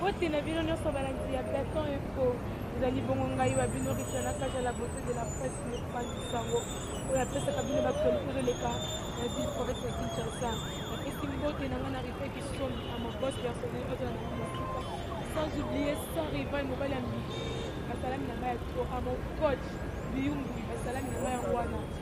mbote na bino nyonso balandi ya platon info ezali bongo ngai wa bino richard na kaja la beauté de la presse mopanzi sango oyo apesaka bino baaktualité ezoleka na ville province ya kinshasa napesi mbote na ngai na rife kisoni na mabos personnel oyo na mosika sans oublier sans rival mobali ya mbi basalami na ngai ya to a mon coach biyungui basalami na ngai yango wana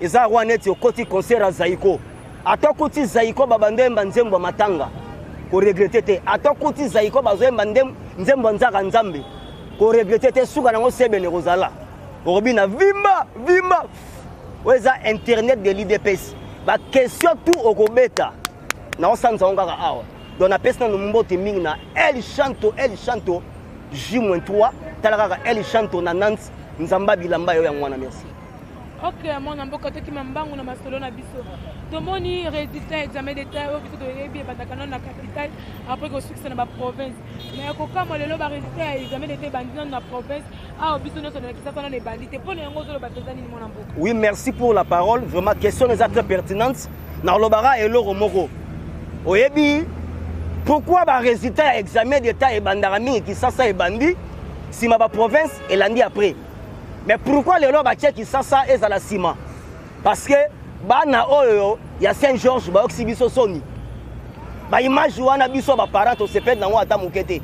eza roi neti okoti concert ya zaiko ata okoti zaiko babanda oyemba nzembo ya matanga koregrete te ata okoti zaiko bazoyemba nzembo ya nzaka nzambe koregrete te suka nango sebene kozala okobina vimba vimba oyo eza internet de l'idps baquestion tout okobeta naosanza yango kaka awa donc napesi nano mbote mingi na el chanto el chanto j-3 tala kaka el chanto na nante nzambe abilamba yo yango wana merci ok mwana mboka tokima mbangu na masolo na biso tomoni résultat ya examen d'état oyo biso toyebi ebandaka nano na capitale après kosukisa na baprovince mais ya kokamwa lelo barésultat ya examen d'état ebandi nano na province awa biso nyonso nalakisaka nano ebandi te mpo na yango ozoloba mpenza nini mwana mboka oui merci pour la parole vraiment question eza très pertinente nakolobaka eloko moko oyebi pourquoi barésultat ya examen d'état ebandaka mingi kisasa ebandi nsima baprovince elandi après mais pourquoi lelo batie kisasa ezala nsima parce que bana oyo ya saint georges bayokisi biso soni baimage wana biso baparent tosepeli nango ata moke te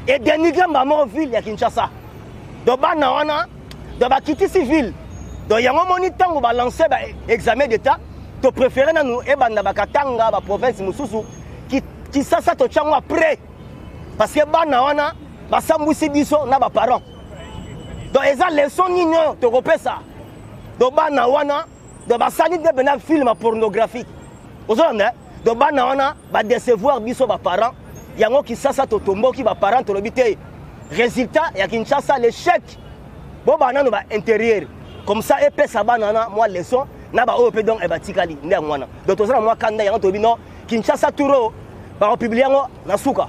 edenigre mbamoko ville ya kinshasa do bana wana do bakitisi ville do yango moni ntango balance baexamen d'état topréféré nanu ebanda bakatanga baprovince mosusu kisasa totyango après parce que bana wana basambwisi biso na baparent donc eza leçon nini oyo tokopesa donc bana wana donc basali nde mpena filme pornographique ozolanda eh? donc bana wana badecevoir biso baparent yango kisasa totomboki baparent tolobi te résultat ya kinshasa l'échec boba nano baintérieur comme ça epesa bana wana mwa leçon na baoyo mpe donc batikali nde yango wana donc toza na mwa kanda yango tolobi no kinshasa touro bakopublie yango na suka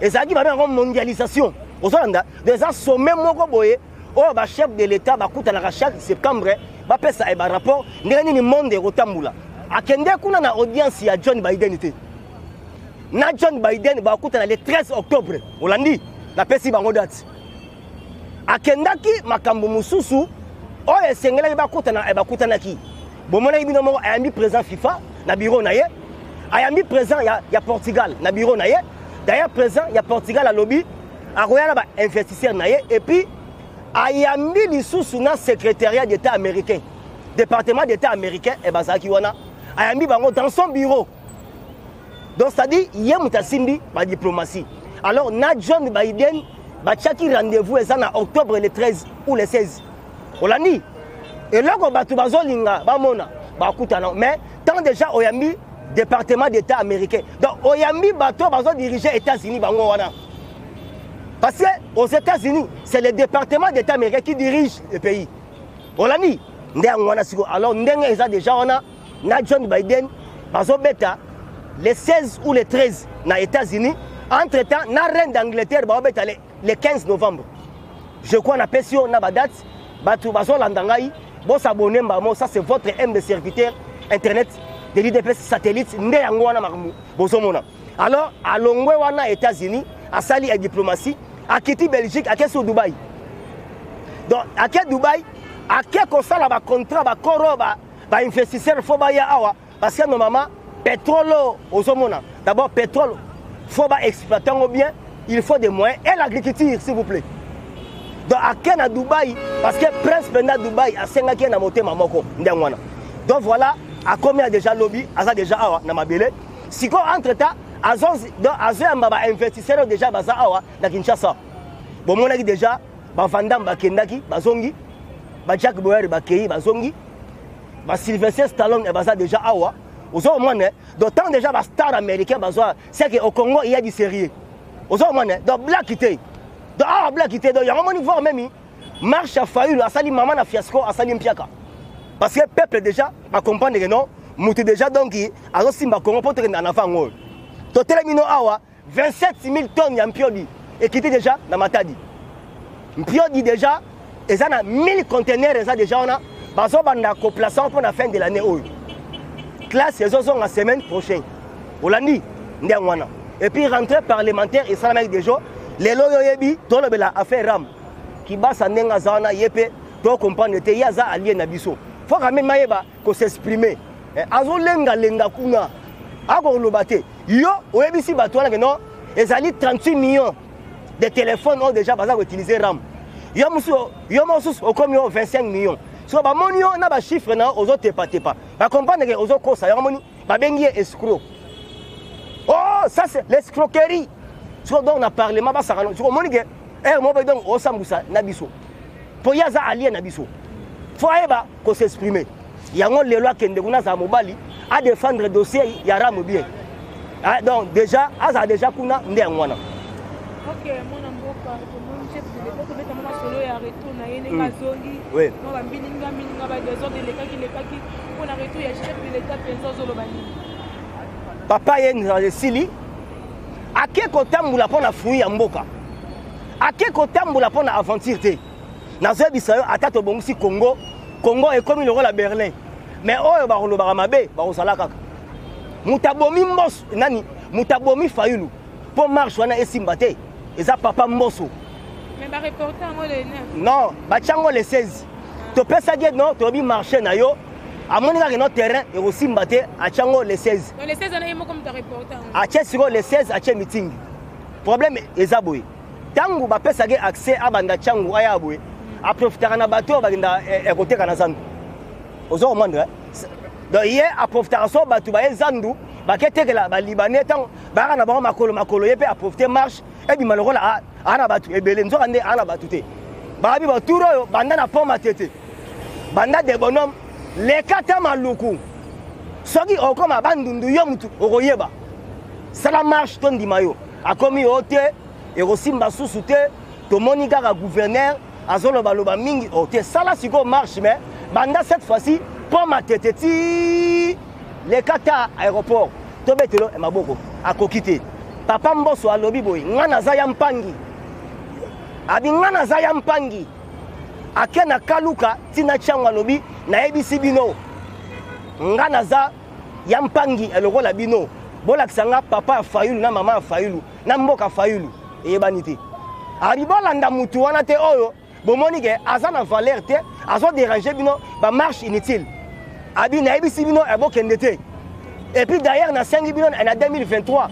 ezalaki babe yango mondialisation ozolanda eza sommet moko boye oyo bachef de l'état bakutanaka chaque septembre bapesa e eh, barapport ndenge nini monde ekotambola akende kuna na audience ya john biden te na john biden bakutana le 13 octobre olandi napesi bango date akendaki makambo mosusu oyo esengelaki bakutana eh, bakutanaki bomonaki bino moko ayambi président fifa na biro na ye ayambi président ya, ya portugal na biro na ye d'ailleurs président ya portugal alobi akoya na bainvestisseur na ye epuis ayambi lisusu na secrétariat d'état américain département d'état américain e eh, bazalaki wana ayambi bango dans son bureau donc c'est-à-dire ye moto asimbi badiplomatie alors na john biden batiaki rendez-vous eza na octobre le 13 ou le 16 olandi eloko bato bazolinga bamona bakutana mais tant déjà oyambi département d'état américain donc oyambi bato bazodirige états-unis bango wana parce que aux états-unis c'est le département d'état américain qui dirige le pays olandi nde yango wana sikoyo alors ndenge eza déjà wana na John Biden bazobeta le 16 ou le 13 na États-Unis entre temps na reine d'Angleterre baobeta le, le 15 novembre je crois na pesi yo na badate bato bazolanda ngai bosabone mbamo ça c'est votre m de serviteur internet de l'idps satellite nde yango wana makambo bozomona alors alongwe wana états-unis asali ya diplomatie akiti belgique ake sur dubai donc ake dubai ake kosala bacontrat bacoro ba, ba ba investisseur fo baya awa parce que normalement pétrole oyo ozomona d'abord pétrole fo ba exploite yango bien il faut des moyens et l'agriculture s'il vous plaît donc ake na dubai parce que prince mpenza dubai asengaki ye na motema moko ndenge wana donc voilà akomi ya déjà lobi aza déjà awa na mabele sikoyo entre temps azoyamba bainvestisseur oyo déjà baza awa na kinshasa bomonaki déjà ba vandam bakendaki bazongi ba jack boyari bakei bazongi ba sylvester stallone baza déjà awa ozo omona donc tant déjà ba star américain bazwa c'est que au congo il y a du sérieux ozo omona donc black te donc awa black te donc yango moni voir meme marche ya fayulu asali mama na fiasco asali mpiaka parce que peuple déjà bacomprendre que non moto déjà donc azosimba congo mpo tokenda na avant yango oyo totelemi no awa 27000 tonnes ya mpiodi ekiti deja na matadi mpiodi deja eza na 1000 contenaire eza deja wana bazobanda koplace mpo na fin de l'année oyo classe ezozonga semaine prochaine olandi nde yango wana epuis rentrée parlementaire esalamaki deja lelo oyo oyebi tolobela affaire ram kibasa ndenge aza wana ye mpe tocomprendre te ye aza alie na biso fo kameme ayeba ko s'exprimer eh, azolengalenga kuna akoloba te yo oyebisi bato wana ke non ezali 38 millions de téléphone oyo déjà baza koutilize ram yo mosusu yo mosusu okomi yo 25 millions so bamoni yo na bachiffre na yo ozotepatepa bacomprendre ke ozokosa yango moni babengi ye escro oh ça c'est l'escroquerie soko donc na parlement basakana soko omoni ke ere eh, moko donc osambusa na biso mpo ye aza alie na biso fo ayeba ko s'exprimer yango lelo akende kuna azala mobali a défendre dossier ya ramu bien ah, donc déjà azala déjà kuna nde yango wana okay, mwana mboka tomoni chef de l'etat tobeta mwa masolo ya retour na ye ndenge azongi mwa bambilinga mbilinga badesordre elekaki elekaki mpo na retour ya chef de l'etat mpenza ozoloba nini papa ye esili ake kotambola mpo na fruit ya mboka ake kotambola mpo na aventure te nazebisa yo ata tobongisi congo congo ekomi lokola berlin mais oyo bakolobaka mabe bakozala kaka moto abomi mboso nani moto abomi fayulu mpo marche wana esimba te eza papa mboso non batya ngo le 16 topesaki ye no tolobi marché na yo amoni kaka no terrain ekosimba te atya ngo le 16 atye sikoyo le 16 atye mitingi problème eza boye Tango ba pesa ke accès a banda changu aya boye, a profitaka na bato ba kenda eh, eh, koteka na zandu. Ozo comprendre? Eh? Donc ye a profitaka so bato ba ye zandu ba ketekela ba libanais tango ba kana bango makolo makolo ye pe a profiter marche et bi malokola a ana bato ebele nzoka nde ana bato te. Ba bi ba tour oyo banda na pont matete. Banda de bonhomme lekata maluku. Soki okoma bandundu yo mutu okoyeba. Sala marche to ndima yo. akomi o te ekosimba susu te tomoni kaka gouverneur azolobaloba mingi o te sala sikoyo marche mais banda cette fois-ci mpo matete ti leka ta aéroport tobetelo eh, maboko akoki te papa mboso alobi boye ngai naza ya mpangi abi ngai naza ya mpangi ake na kaluka ntina ntiango alobi nayebisi bino ngai naza ya mpangi eh, lokola bino bolakisa nga papa ya fayulu na mama ya fayulu na mboka fayulu eyebani te abi bolanda mutu wana te oyo bomoni ke aza na valeur te azoderange bino bamarche inutile abi nayebisi bino eh, bokende te et puis d'ailleurs nasengi bino na 2023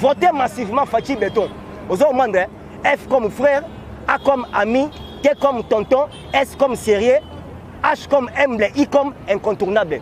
vote massivement faci beton ozo omandre eh? F comme frère, A comme ami, T comme tonton, S comme sérieux, H comme humble, I comme incontournable.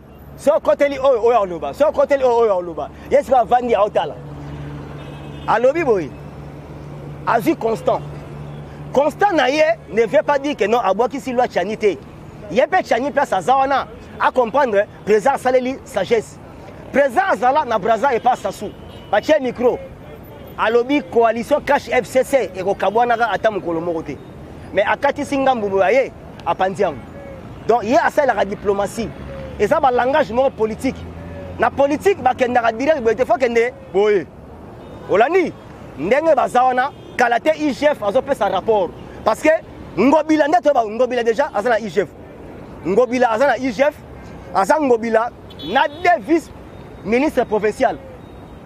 so okoteli oyo oyo aloba so okoteli oyo oyo aloba ye sika avandi aotala alobi boye azwi constant constant na ye ne veut pas dire que non abwakisi loi chani te ye mpe chani place aza wana acomprendre président asaleli sagesse président azala na braza epa sasu batie micro alobi coalition cash fcc ekokabwanaka ata mokolo moko te mais akatisi ngambo boye aye apanzi yango donc ye asalelaka diplomatie eza balangage moko politike na politike bakendaka direct boye te fo kende boye olandi ndenge baza wana kala te igf azopesa rapport parce que ngobila nde toyeba ngobila déjà aza na igf ngobila aza na igf aza ngobila na de vice ministre provincial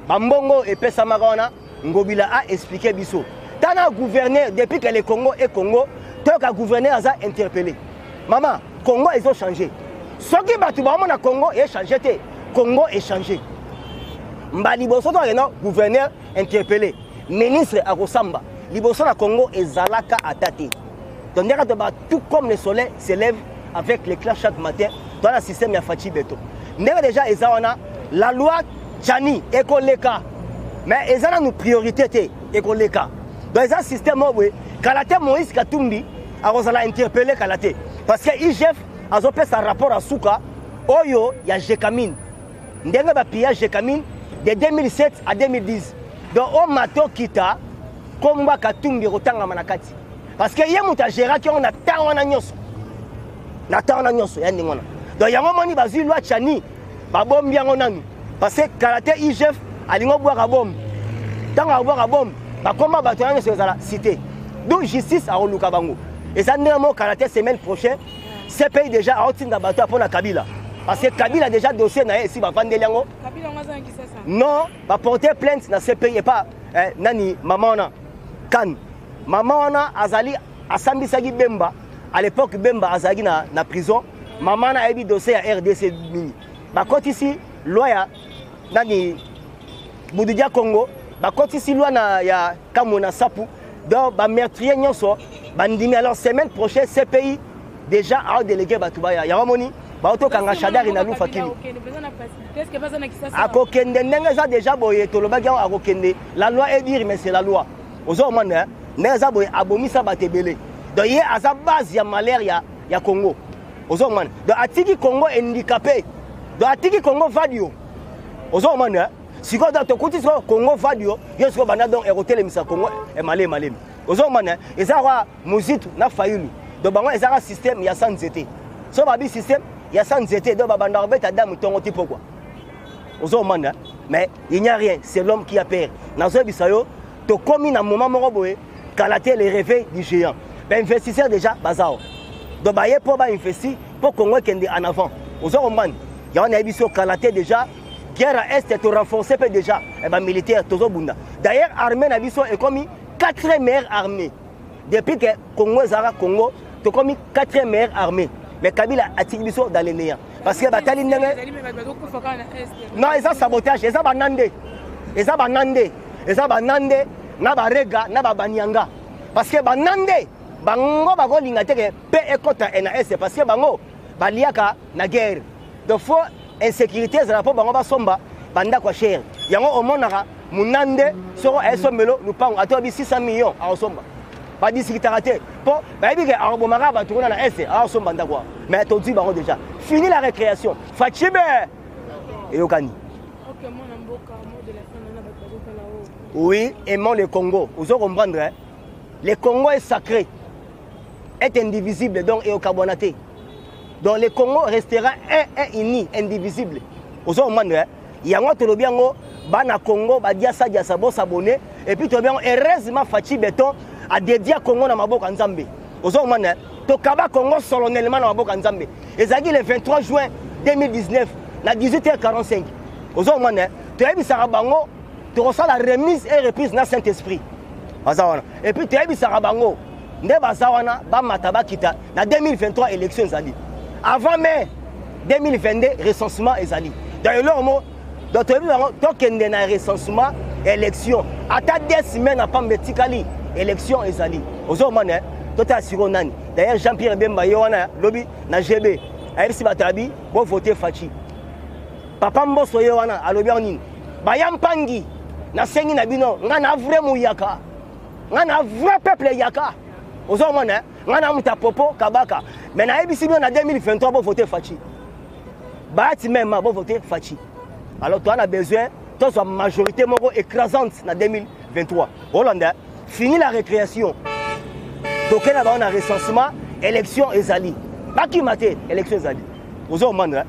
bambongo epesamaka wana Ngobila a expliquer biso. Tana gouverneur depuis que le Congo est Congo, tant que gouverneur aza interpellé. Maman, Congo ils ont changé. Soki batu ba mona Congo est changé te. Congo est changé. Mba liboso to akenda gouverneur interpellé. Ministre akosamba. Liboso na Congo ezalaka ata te. donc ndenge to ba tout comme le soleil s'élève avec l'éclat chaque matin dans la système ya Fatshi Beto ndenge déjà eza wana la loi Chani ekoleka mais eza nanu priorité te ekoleka donc eza système oyo boye kala te Moïse Katumbi akozala interpellé kala te parce que IGF azopesa rapport ya suka oyo ya Jekamine ndenge ba pillage de Camille de 2007 à 2010 donc o mato kita kombo ya katumbi ekotangama na kati parce que ye moto agéraki yango na ntango wana nyonso na ntango wana nyonso ya ndenge wana donc yango omoni bazwi lwa chani babombi yango nanu parce que kala te igf alingi obwaka bomu ntango akobwaka bomu bakoma bato wana nyonso ezala cité donc justice akoluka bango eza ndenge moko kala te semaine prochaine CPI déjà aotinda bato mpo na Kabila parce que Kabila déjà dossier na ye esi bavandeli yango non baporte plainte na CPI epa eh, nani mama wana kane mama wana azali asambisaki bemba à l'époque bemba azalaki na, na prison mama wana ayebi dossier ya rdc mingi bakotisi loi ya nani bududia congo bakotisi lwa na ya kamwe na sapu donc bameurtrier nyonso bandimi alors semaine prochaine cpi déjà aodelege bato baya yango amoni baotokanga shadari na lufa kili akokende ndenge eza déjà boye tolobaki yango akokende la loi est dire mais c'est la loi ozo omona ndenge eza boye abomisa bato ebele donc ye aza base ya malheur ya, ya congo ozo komana donc atiki congo handicapé donc atiki congo vadio ozo komana hein? sikoyo donc tokuti sikoyo congo vadio yo sikoyo banda donc ekotelemisa congo emalemi malemi ozo komana hein? eza kwa muzitu na fayulu donc bango ezaka système ya sa nzete so babi système ya sa nzete donc babanda kobeta damu ntongo ti pokwa ozo komana hein? mais il n'y a rien c'est l'homme qui a peur nazoyebisa yo tokomi na moment moko boye kala te le réveil du géant bainvestisseur déjà baza awa donc baye mpo bainvesti mpo congo ekende en avant oza comprendre yango nayebi so kala te déjà guerre ya este torenforce mpe déjà eh, bamilitaire tozobunda d'ailleurs armée na biso ekomi 4 meilleure armée depuis que congo ezalaka congo tokomi 4e meilleure armée mais kabila atiki biso dans le néant parce que batali ndenge non eza sabotage eza bana nde eza bana nde eza bana nde na barega na babanianga parce que bana nde bango bakolinga te ke mpe ekɔta na est parce que bango baliaka na guerre Donc faut insecurite ezala po bango basomba bandako ya chere yango omonaka munande soko aesombelo lupango ata oyebi 600 million akosomba badisikitaka te mpo bayebi ke akobomaka bato kuna na este akosomba ndako wana mais tozwi bango déjà fini la récréation facibe eyokani oui aimant le congo ozo comprendre hein? le congo est sacré est indivisible donc eyokabwana te donc le congo restera un un uni indivisible ozo comprendre eh? yango tolobi yango bana congo badiasa diasa bosabone epuis tolobi yango heureusement faci beton adedia congo na maboko ya nzambe ozo comprendre eh? tokaba congo solennellement na maboko ya nzambe ezalaki le 23 juin 2019 na 18h45 ozo comprendre eh? toyebisaka bango tokosala remise et reprise na saint esprit aza wana epuis toyebisaka bango nde baza wana bamata bakita na 2023 élection ezali avant mai 2022 recensement ezali donc eloko moko donc toyebi bango tokende na recensement élection ata de semaine na pamba etikali élection ezali ozomona totala siko nani d'ailleurs jean pierre bemba ye wana lobi na gb ayebisi bato abi bovote faci papa mboso ye wana alobi yango nini baya mpangi nasengi na bino ngai na vrai moyaka nga na vrai peuple yaka ozo mona eh? nga na muta popo kabaka mais nayebisi bino na 2023 bo voter fachi baati meme bo voter fachi alors toi na besoin tozwa majorité moko écrasante na 2023 olanda eh? fini la récréation toke na bango na recensement élection ezali bakima te élection ezali ozo mona eh?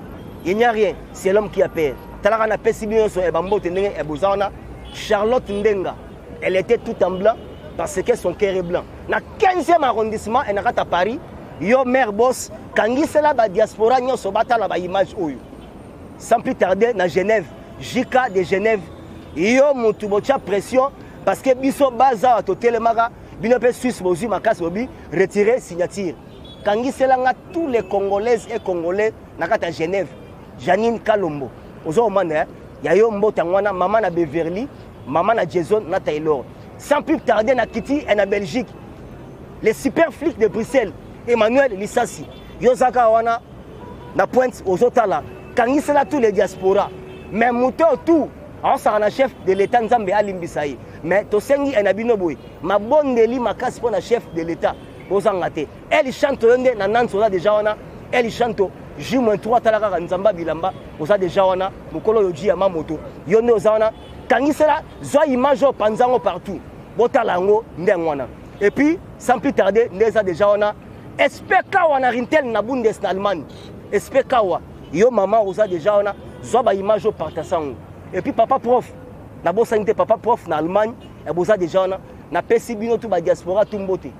il n'y a rien c'est l'homme qui a peur talaka napesi bino nyonso eh, bambote ndenge boza wana charlotte ndenga Elle était tout en blanc parce que son cœur est blanc. Na 15e arrondissement et na kata Paris, yo mère boss kangisela ba diaspora nyonso batala ba image oyo. Sans plus tarder na Genève, JK de Genève. Yo mutu botia pression parce que biso baza wa totelemaka bino pe Suisse bozui makasi bobi retirer signature. Kangisela nga tous les congolaises et congolais na kata Genève. Janine Kalombo ozo omana eh? ya yo mbote yango wana mama na Beverly mama na Jason na Taylor sans plus tarder na kiti et eh, na Belgique les super flics de Bruxelles Emmanuel Lisasi yo zaka wana na pointe ozo tala kangisela tous les diaspora mais moto tout aosaka na chef de l'état nzambe alimbisa ye mais tosengi eh, na bino boye mabondeli makasi mpo na chef de l'état bozanga te El Chanto yo nde na Nantes oza deja wana El Chanto J-3 tala kaka nzamba bilamba oza deja wana mokolo oyo ji ya mamoto yo nde oza wana kangisela zwa image oyo panza yango partout botala yango nde yango wana et puis sans plus tarder nde eza deja wana spk wana rintel na bundes na allemagne spk wa yo mama oza deja wana zwa baimage oyo partasa yango et puis papa prof nabosani te papa prof na allemagne boza deja wana napesi bino tu badiaspora tu mbote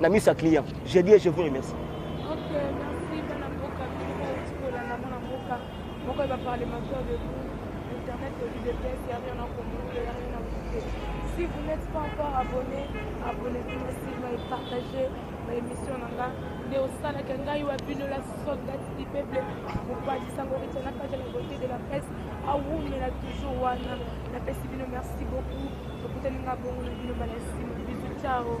Na miso ya client. Je dis et je vous remercie. Pourquoi il va parler maintenant de vous Internet, au lieu de test, il n'y a rien à comprendre, il n'y a rien à goûter. Si vous n'êtes pas encore abonné, abonnez-vous massivement et partagez ma émission nanga. nde osalaka ngai wa bino la soldate du peuple mopatisa ngo etyanaka ja la beauté de la presse awumela toujours wana napesi bino merci beaucoup Tokutani nga bongo na bino bana sima. Bisous, ciao.